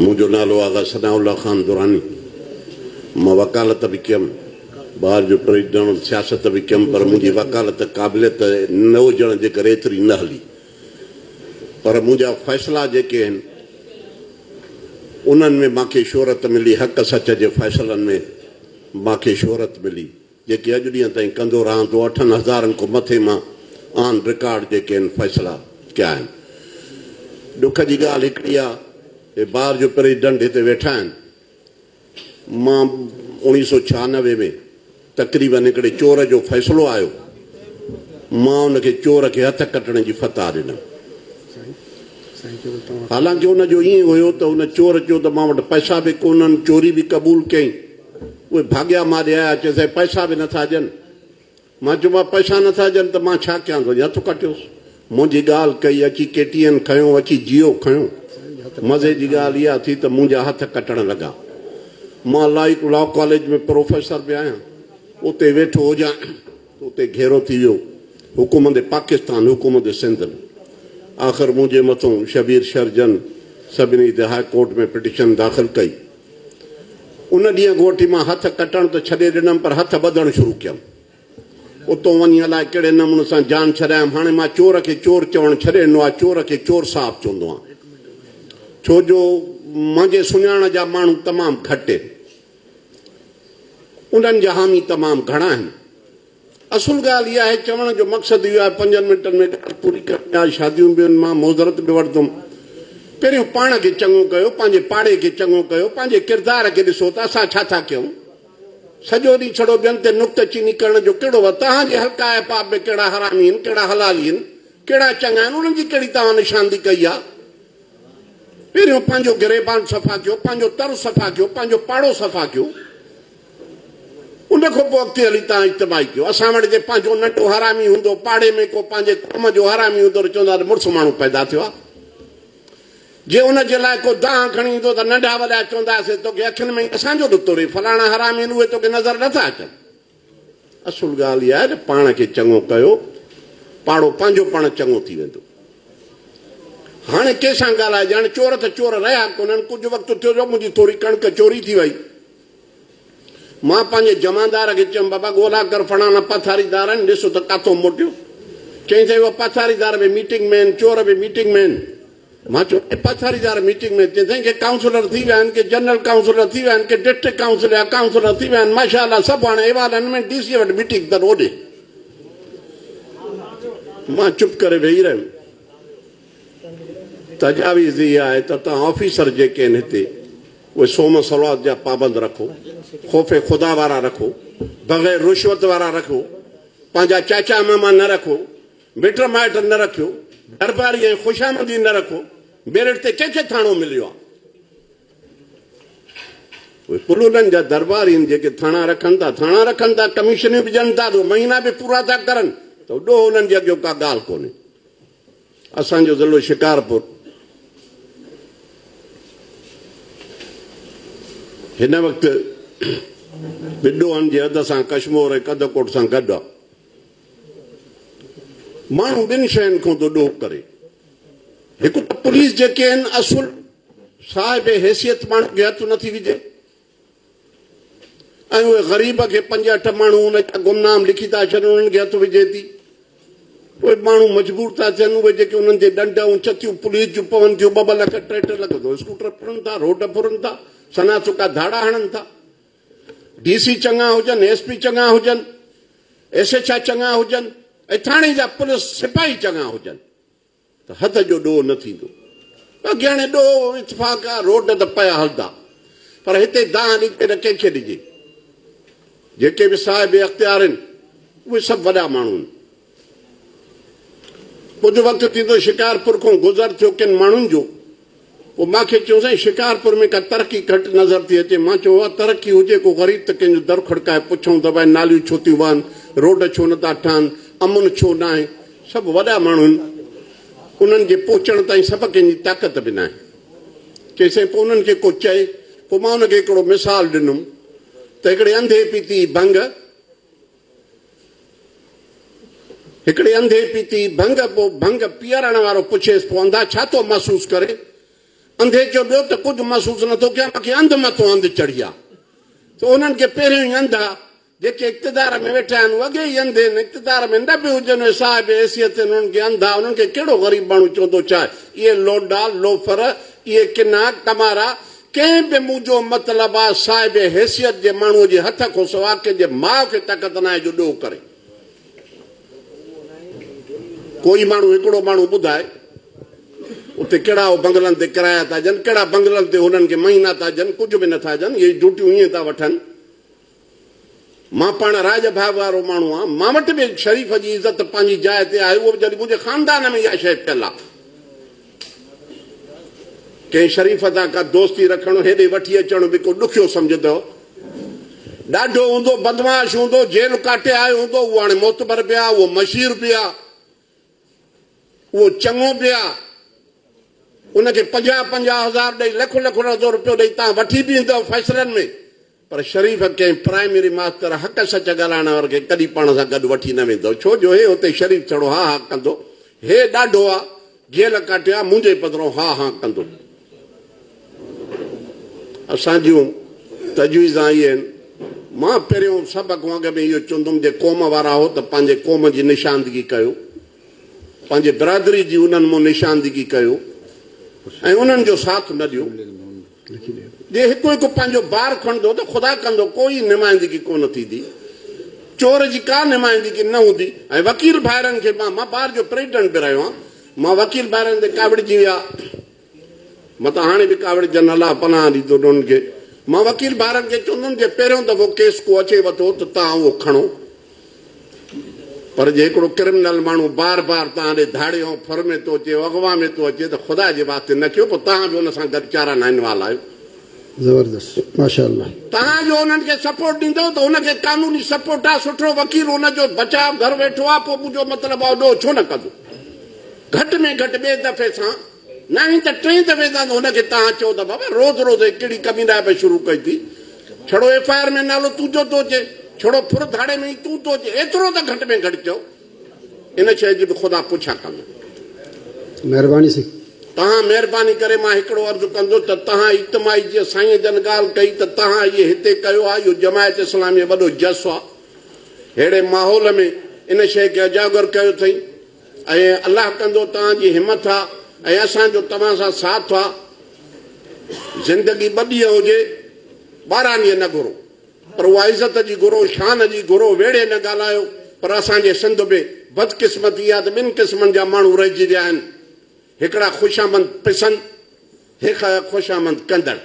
منهنجو نالو آغا ثناء الله خان دراني. مان وڪالت به ڪيم. بار جو پريزيڊنٽ، سياست به ڪيم پر منهنجي وڪالت قابليت نه هجڻ جي ڪري ايتري نه هلي. پر منهنجا فيصلا جيڪي آهن انهن ۾ مان کي شهرت ملي، حق سچ جي فيصلن ۾ مان کي شهرت ملي. جيڪي اڄ ڏينهن تائين ڪندو رهان ٿو اٺن هزارن کان مٿي مان آن رڪارڊ جيڪي هن فيصلا ڪيا آهن ڏک جي ڳالهه هڪڙي آهي هي بار جو پريزيڊنٽ هتي ويٺا آهن مان اوڻيهه سو ڇهانوي ۾ تقريبن هڪڙي چور جو فيصلو آيو مان ان کي چور کي هٿ ڪٽڻ جي فتح ڏنم حالانڪه ان جو ائين هيو ته ان چور چيو ته مان وٽ پئسا به ڪونهن چوري به قبول ڪيائين اهي ڀاڳيا ماري آيا، چيو سائين پئسا به نٿا ڏين. مان چيو مان پئسا نٿا ڏين ته مان ڇا ڪيان تنهنجي هٿ ڪٽيوس. منهنجي ڳالهه ڪئي اچي ڪي ٽي اين کنيو اچي جيو کنيو. مزي جي ڳالهه اها ٿي ته منهنجا هٿ ڪٽڻ لڳا. مان لائق لا ڪاليج ۾ پروفيسر به آهيان. اتي ويٺو هجان ته اتي گهيرو ٿي ويو حڪومت پاڪستان حڪومت سنڌ به آخر منهنجي مٿون شبير شرجن سڀني هتي هاء ڪورٽ ۾ پٽيشن داخل ڪئي. ان ڏينهن گهوٽي مان هٿ ڪٽڻ ته ڇڏي ڏنم پر هٿ ٻڌڻ شروع ڪيم. اتو وڃي الائي ڪهڙي نموني سان جان ڇڏايم. هاڻي مان چور کي چور چوڻ ڇڏي ڏنو آهي، چور کي چور صاحب چوندو آهيان. ڇو جو منهنجي سڃاڻ جا ماڻهو تمام گهٽ آهن. انهن جا حامي تمام گهڻا آهن. اصل ڳالهه اها آهي، چوڻ جو مقصد اهو آهي، پنجن منٽن ۾ ڳالهه پوري ڪرڻي آهي، شاديون به ان مان معذرت به وٺندم. پهريون پاڻ کي چڱو ڪيو، پنهنجي پاڙي کي چڱو ڪيو، پنهنجي ڪردار کي ڏسو ته اسان ڇا ٿا ڪيون؟ سڄو ڏينهن ڇڙو ٻين تي نڪته چيني ڪرڻ جو ڪهڙو وقت؟ توهان جي حلقه احباب ۾ ڪهڙا حرامي آهن، ڪهڙا حلالي آهن، ڪهڙا چڱا آهن، انهن جي ڪهڙي توهان نشاندهي ڪئي آهي؟ پهريون پنهنجو گريبان صفا ڪيو، پنهنجو تر صفا ڪيو، پنهنجو پاڙو صفا ڪيو، ان کان پوء اڳتي هلي تان اجتماعي ٿيو. اسان وٽ جي پنهنجو ننڍو حرامي هوندو، پاڙي ۾ ڪو پنهنجي قوم جو حرامي هوندو ته چوندا ته مڙس ماڻهو پيدا ٿيو آهي. جي ان جي لاء ڪو دانهن کڻي ايندو ته ننڍا وڏا چونداسين توکي اکين ۾ ئي اسان جو ڏتو رهي، فلاڻا حرامي آهن اهي توکي نظر نه ٿا اچن. اصل ڳالهه اها آهي ته پاڻ کي چڱو ڪيو، پاڙو پنهنجو پاڻ چڱو ٿي ويندو. هاڻي ڪنهن سان ڳالهائجي؟ هاڻي چور ته چور رهيا ڪونهن، ڪجهه وقت ٿيو جو منهنجي ٿوري ڪڻڪ چوري ٿي وئي، مان پنهنجي جمعدار کي چيم، بابا ڳولا ڪر فلاڻا پٿاريدار آهن، ڏس ته ڪاٿو موٽيو. چيائين، سائين اهو پٿاريدار به ميٽنگ ۾ آهن، چور به ميٽنگ ۾ آهن. مان چيو، اهي پٿاريدار ميٽنگ ۾ آهن؟ چيائين، سائين ڪي ڪائونسلر ٿي ويا آهن، ڪي جنرل ڪائونسلر ٿي ويا آهن، ڪي ڊسٽرڪٽ ڪائونسل جا ڪائونسلر ٿي ويا آهن، ماشاء الله سڀ هاڻي ايوانن ۾ ڊي سي وٽ ميٽنگ اٿن، هوڏي. مان چپ ڪري ويهي رهيم. تجاويز اها آهي ته توهان آفيسر جيڪي آهن هتي اهي صوم صلوات جا پابند رکو، خوف خدا وارا رکو، بغير رشوت وارا رکو، پنهنجا چاچا ماما نه رکو، مٽ مائٽ نه رکيو، درباري ۽ خوشامدي نه رکو، ميرٽ تي ڪنهن کي ٿاڻو مليو آهي؟ اهي پلولن جا درباري آهن جيڪي ٿاڻا رکن ٿا، ٿاڻا رکن ٿا، ڪميشنيون به ڏين ٿا، دو مهينا به پورا ٿا ڪرن ته ڏوهه انهن جي اڳيو ڪا ڳالهه ڪونهي. اسان جو ضلعو شڪارپور هن وقت به ڏوهن جي حد سان ڪشمور ۽ ڪنڌڪوٽ سان گڏ آهي. ماڻهو ٻن شين کان ٿو ڏوهه ڪري. هڪ ته پوليس جيڪي آهن اصل صاحب حيثيت ماڻهو کي هٿ نٿي وجهي. ۽ اهي غريب کي پنج اٺ ماڻهو ان جا گمنام لکي ٿا ڇڏن انهن کي هٿ وجهي ٿي اهي ماڻهو مجبور ٿا ٿين اهي جيڪي انهن جي ڏنڊ ۽ چتيون پوليس جون پون ٿيون ٻه ٻه لک ٽي ٽي لک ٿو اسڪوٽر ڦرن ٿا روڊ ڦرن ٿا سنا سڪا ڌاڙا هڻن ٿا ڊي سي چڱا هجن ايس پي چڱا هجن ايس ايچ آء چڱا هجن ۽ ٿاڻي جا پوليس سپاهي چڱا هجن ته هٿ جو ڏوهه نه ٿيندو. اگهياڻي ڏوهه اتفاق آ روڊ ته پيا هلندا پر هتي دانهن ڏجي نه ڪنهن کي ڏجي. جيڪي به صاحب اختيار آهن اهي سڀ وڏا ماڻهو آهن. ڪجهه وقت ٿيندو شڪارپور کان گذر ٿيو ڪن ماڻهن جو پوء مان کيس چيو سائين شڪارپور ۾ ڪا ترقي گهٽ نظر ٿي اچي مان چيو اها ترقي هجي ڪو غريب ته ڪنهن جو در کڙڪائي پڇون ته ڀائي ناليون ڇو ٿيون وهن روڊ ڇو نه ٿا ٺهن امن ڇو ناهي سڀ وڏا ماڻهو آهن انهن جي پهچڻ تائين سڀ ڪنهن جي طاقت به ناهي چي سائين پوء انهن کي ڪو چئي پوء مان ان کي هڪڙو مثال ڏنم ته هڪڙي انڌي پيتي ڀنگ هڪڙي انڌي پيتي ڀنگ پو ڀنگ پيئرڻ وارو پڇيس پو انڌا ڇا ٿو محسوس ڪرين؟ انڌي چيو ٻيو ته ڪجهه محسوس نه ٿو ڪيان مونکي انڌ مٿو انڌ چڙهي آ سو انهن کي پهريون ئي انڌا جيڪي اقتدار ۾ ويٺا آهن هو اڳي ئي انڌي آهن اقتدار ۾ نه به هجن اهي صاحب حيثيت آهن انهن کي انڌا انهن کي ڪهڙو غريب ماڻهو چوندو ڇا اهي لونڊا لوفر اهي ڪنا ڪمارا ڪنهن به منهنجو مطلب آ صاحب حيثيت جي ماڻهوء جي هٿ کان سوا ڪنهن جي ماء کي طاقت ناهي جو ڏوهه ڪري. ڪوئي ماڻهو هڪڙو ماڻهو ٻڌائي اتي ڪهڙا هو بنگلن تي ڪرايا ٿا ڏين ڪهڙا بنگلن تي هنن کي مهينا ٿا ڏين ڪجهه به نٿا ڏين اهي ڊيوٽيون ائين ٿا وٺن. مان پاڻ رائج ڀاڳ وارو ماڻهو آهيان. مان وٽ به شريف جي عزت پنهنجي جاء تي آهي، اهو به جڏهن منهنجي خاندان ۾ اها شيء پيل آهي. ڪنهن شريف سان ڪا دوستي رکڻ، هيڏي وٺي اچڻ به ڪو ڏکيو سمجهندو. ڏاڍو هوندو، بدمعاش هوندو، جيل ڪاٽي آيو هوندو، اهو هاڻي معتبر به آهي، اهو مشير به آهي، اهو چڱو به آهي. ان کي پنجاهه پنجاهه هزار ڏئي، لک لک روپيو ڏئي توهان وٺي به ايندؤ فيصلن ۾. پر شريف ڪنهن پرائمري ماستر حق سچ ڳالهائڻ وارن کي ڪڏهن پاڻ سان گڏ وٺي نه ويندو، ڇو جو هي اتي شريف ڇڙو هان هان ڪندو، هي ڏاڍو آ، جيل ڪاٽيو آ، منهنجي پڌرو هان هان ڪندو. اسان جون تجويزان اهي آهن. مان پهريون سڀ کان اڳ ۾ اهو چوندم جي قوم وارا آهو ته پنهنجي قوم جي نشاندگي ڪيو، پنهنجي برادري جي انهن مون نشاندگي ڪيو ۽ انهن جو ساٿ نه ڏيو. جي هڪ هڪ پنهنجو بار کڻندو ته خدا ڪندو ڪو ئي نمائندگي ڪو نه ٿيندي. چور جي ڪا نمائندگي نه هوندي ۽ وڪيل ڀائرن کي مان مان بار جو پريزيڊنٽ به رهيو آهيان. مان وڪيل ڀائرن تي ڪاوڙجي ويا. مان ته هاڻي به ڪاوڙجن الله پناهه ڏيندو انهن کي. مان وڪيل ڀائرن کي چوندم جي پهريون دفعو ڪيس ڪو اچي وٿو ته توهان اهو کڻو پر جي هڪڙو ڪرمنل ماڻهو بار بار توهان ڏي ڌاڙي ۽ ڦر ۾ ٿو اچي، اغوا ۾ ٿو اچي ته خدا جي واسطي نه ڪيو، پوء توهان به ان سان گڏ چاران نائنوال آهيو. زبردست ماشاء الله. توهان جو انهن کي سپورٽ ڏيندو ته ان کي قانوني سپورٽ آ سٺو وڪيل ان جو بچاء گهر ويٺو آ پوء منهنجو مطلب آ اهو ڏوهه ڇو نه ڪندو گهٽ ۾ گهٽ ٻئي دفعي سان ناهين ته ٽئين دفعي تان ته هن کي توهان چئو ته بابا روز روز هي ڪهڙي ڪمينائي پئي شروع ڪئي ٿي. ڇڙو ايف آء آر ۾ نالو تون جو ٿو اچي، ڇڙو ڦر ڌاڙي ۾ ئي تون ٿو اچي، ايترو ته گهٽ ۾ گهٽ چئو. ان شيء جي به خدا پڇا ڪندو. مهرباني سائين. توهان مهرباني ڪري مان هڪڙو عرض ڪندس ته توهان اجتماعي جيئن سائينء جن ڳالهه ڪئي ته توهان اهي هتي ڪيو آهي اهو جماعت اسلامي وڏو جسو آهي. ههڙي ماحول ۾ ان شيء کي اجاگر ڪيو اٿئي. ۽ الله ڪندو توهان جي همٿ آ ۽ اسان جو توهان سان ساٿ آ. زندگي ٻه ڏينهن هجي، ٻارهن ڏينهن نه گهرو، پر اها عزت جي گهرو، شان جي گهرو، ويڙهي نه ڳالهايو، پر اسان جي سنڌ ۾ بدقسمتي اها ته ٻن قسمن جا ماڻهو رهجي ويا آهن، هڪڙا خوشامند پسند، هڪ خوشامند ڪندڙ.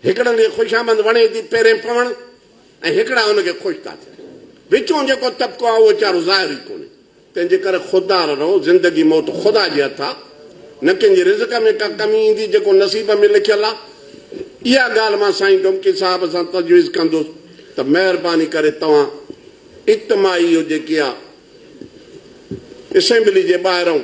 هڪڙن کي خوشامند وڻي ٿي پيرين پوڻ ۽ هڪڙا ان کي خوش ٿا ٿين. وچون جيڪو طبقو آهي اهو چارو ظاهر ئي ڪونهي. تنهن جي ڪري خوددار رهو. زندگي موت خدا جي هٿ آهي. نه ڪنهن جي رزق ۾ ڪا ڪمي ايندي جيڪو نصيب ۾ لکيل آهي. اها ڳالهه مان سائين ڊومڪي صاحب سان تجويز ڪندس ته مهرباني ڪري توهان اجتماعي اهو جيڪي آهي اسيمبلي جي ٻاهرئون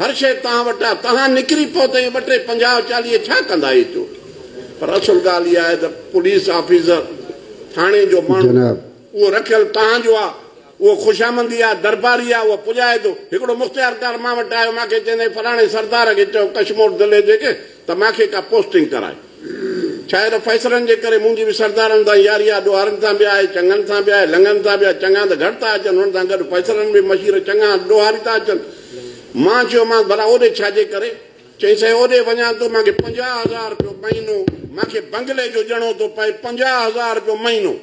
هر شيء توهان وٽ آ، توهان نڪري پئو ته اهي ٻه ٽي پنجاهه چاليهه ڇا ڪندا اهي چور؟ پر اصل ڳالهه اها آهي ته پوليس آفيسر، ٿاڻي جو ماڻهو، جناب. اهو رکيل توهان جو آ، اهو خوشامندي آ، درباري آ، اهو پڄائي ٿو. هڪڙو مختيارڪار مان وٽ آيو، مان کي چيائين ته فلاڻي سردار کي چئو ڪشمور ضلعي جي ڪنهن ته مان کي ڪا پوسٽنگ ڪرائي. ڇاهي ته فيصلن جي ڪري منهنجي به سردارن سان ياري آهي، ڏوهارن سان به آهي، چڱن سان به آهي، لڱن سان به آهي، چڱا ته گهٽ ٿا اچن، انهن سان گڏ فيصلن ۾ به مشير چڱا ڏوهاري ٿا اچن. مان چيومانس، ڀلا اوڏي ڇاجي ڪري؟ چيائين، سائين اوڏي وڃان ٿو مان کي پنجاهه هزار رپيو مهينو، مان کي بنگلي جو ڄڻو ٿو پئي، پنجاهه هزار رپيو مهينو!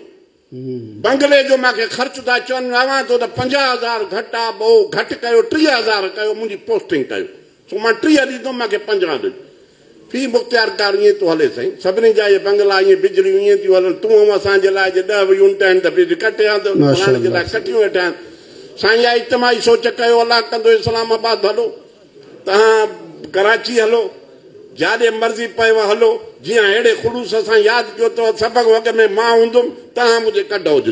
بنگلي جو مان کي خرچ ٿا چون، اوهان چئو ته پنجاهه هزار گهٽ آهي، ٻئو گهٽ ڪيو، ٽيهه هزار ڪيو، منهنجي پوسٽنگ ڪيو، سو مان ٽيهه ڏيندم، مان کي پنجاهه ڏج. في مختيار ڪار ائين ٿو هلي سائين، سڀني جا اهي بنگلا ائين بجليون ائين ٿيون هلن، تون آئون اسان جي لاء جي ڏهه يونٽ آهن ته بجلي ڪٽ يا ته فلاڻي جي لاء ڪٽيون ويٺا آهيون. سائين اها اجتماعي سوچ ڪيو، الله ڪندو اسلام آباد ڀلو. تهان ڪراچي هلو، جاڏي مرضي پيو هلو، جيئن اهڙي خلوص سان ياد ڪيو ته سڀڪ وڳ ۾ مان هوندم، تهان منهنجي ڪڍ هججو.